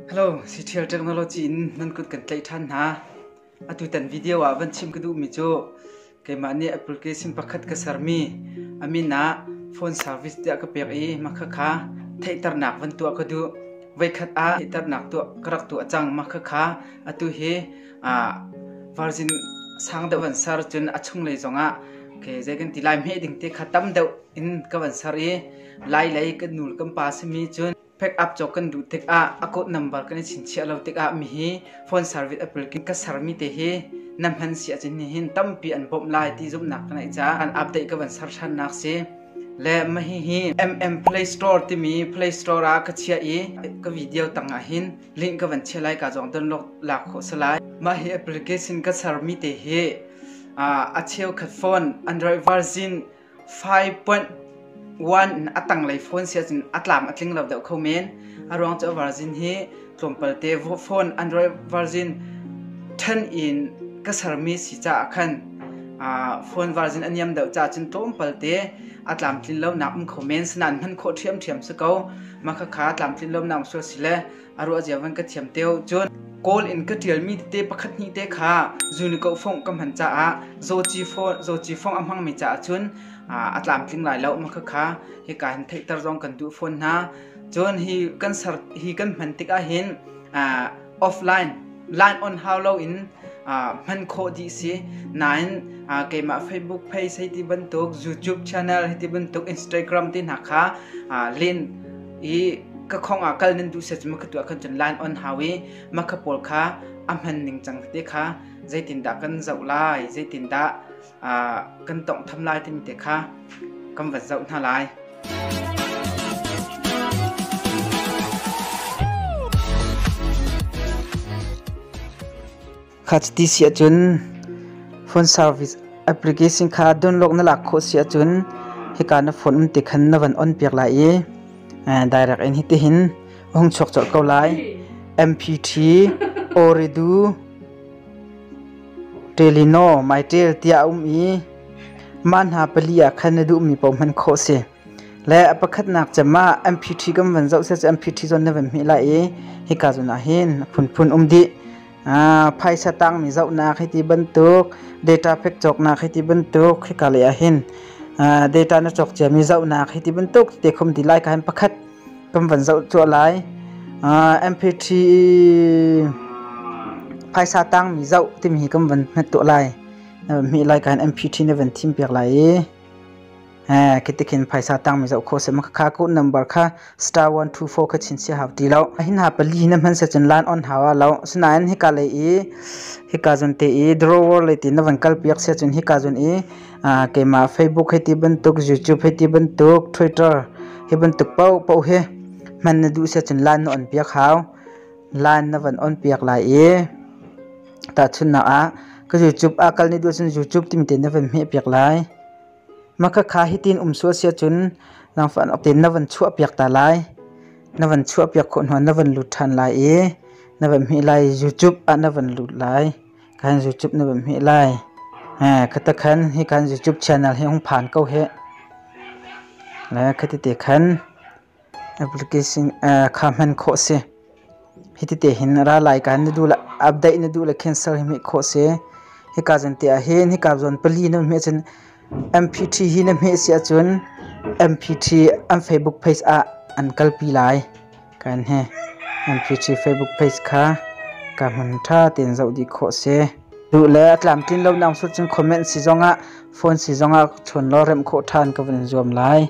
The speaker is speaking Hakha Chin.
Hello, Citial Technology in nan kut kan tlaih ṭhan hna. Atutan video ah van chim ka duhmi cu keimah nih application pakhat ka sermi a min ah phone service tiah ka pek i mahka kha theihternak van tuah ka duh. Voikhat ah theihternak tuah ka rak tuah cang mahka kha atu hi aa virgin sang deuh van ser cun a chunglei zongah ke zei kan ti lai meh ding te kha tam deuh in ka van ser i lai lei kan nul kan pa simi cun Pack-up cawk kan duh tikah a code number kan i chinchiah lo tikah mi hi phone service a pulkin ka sermi te hi na hman si ahcun nihin tampi an bawmh lai ti zumhnak ka ngeih caah an update ka van ser ṭhannak si. Le mah hihi MM Play Store timi Play Store ah ka chiah i ka video tangah hin link ka van chiah lai ka zong download lak khawh si lai. Mah hi application ka sermi te hi a cheukhat phone Android version 5 point 1 a tanglei phone sia cun a tlam a tling lo deuh kho men a ruang cu virgin hi tlawmpal te phone android virgin 10 in ka sermi si ca ah khan phone virgin a niam deuh ca cun tlawmpal te a tlamtlin lo nak um kho men sanan hman khawh ṭhiamṭhiam si ko mah khakha tlamtlin lo nak um sual si le a ruah cio van ka thiam te cun kawl in ka ṭialmi tete pakhat hnih te kha zunikoh fongh ka hman caah zawci fawh zawci fongh a hmangmi caah cun a tlamtling lai lo ma khakha hika hin theihter zong kan duh fawn hna cun hi kan ser hi kan hman tikah hin offline line on hau lo in hman khawh dih si nain keimah facebook page hei ti bantuk youtube channel hei ti bantuk instagram ti hna kha len i ka khong ah kal nan duh set ma ka tuah khan cun line on hau i ma kha pawl kha a hman ning cang te kha zeitindah kan zoh lai zeitindah kan tong tham lai timi te kha kan va zoh hna lai Kha chiti si ahcun phone service application kha download na lak khawh si ahcun hika na phone um te khan na van on piak lai i direct in hitihin hung chuak colh ko lai mpt oridu telino mytel tiah a um i mah hna pali ah khan na duhmi paoh hman khawh si Le a pakhatnak cem ah MPT kan van zoh seh cu MPT zawn na van hmih lai i hika zawn ah hin phunphun um dih. Ah, phaisa tangmi zohnak hi ti bantuk, data pek cawknak hi ti bantuk khika lei ah hin ah, data na cawk ciami zohnak hi ti bantuk te khum ti lai ka hin pakhat kan van zoh cuah lai. Ah, MPT phaisa tangmi zoh timi hi kan van hmet tuah lai. Na van hmih lai ka hin MPT na van thim piak lai i Eh kitikin phaisa tangmi zoh khawh seh makhakha ku number kha star 124 kha chin sia hau ti lo hin ha pali na hman se chin lan on hawa lo sinain hika lei i hika zun te i drawer lei ti na van kal piak sia cun hika zun i keima facebook hei ti bantuk youtube hei ti bantuk twitter hi bantuk pau pau he hman na duh sia cun lan na on piak hau lan na van on piak lai i Tahchunhnak ah, ka YouTube aa kal ni duh ahcun YouTube timi te na van hmeh piak lai. Makhakha hitin um sual si ahcun nangfah nok tein na van chuah piak ta lai. Na van chuah piak khawh hnuah na van lut ṭhan lai i na van hmeh lai. YouTube ah na van lut lai. Khan YouTube na van hmeh lai. Eh, khatakhan hi khan YouTube channel hi hong phan ko heh. Le khati te khan Application kha hman khawh si. Hitite hin ra lai ka na du le update na du le cancel hi hmek khawh si. Hika zan te ah hin hika zon pali na hme cun MP3 hi na hme si ahcun MP3 an Facebook page ah an kalpi lai. Kan he MP3 Facebook page kha ka hman tha ten zoh dih khawh si. Du le a tlamtlin lo nang sur cun comment si zongah phone si zongah chon lo rem khawh than ka vun zuam lai.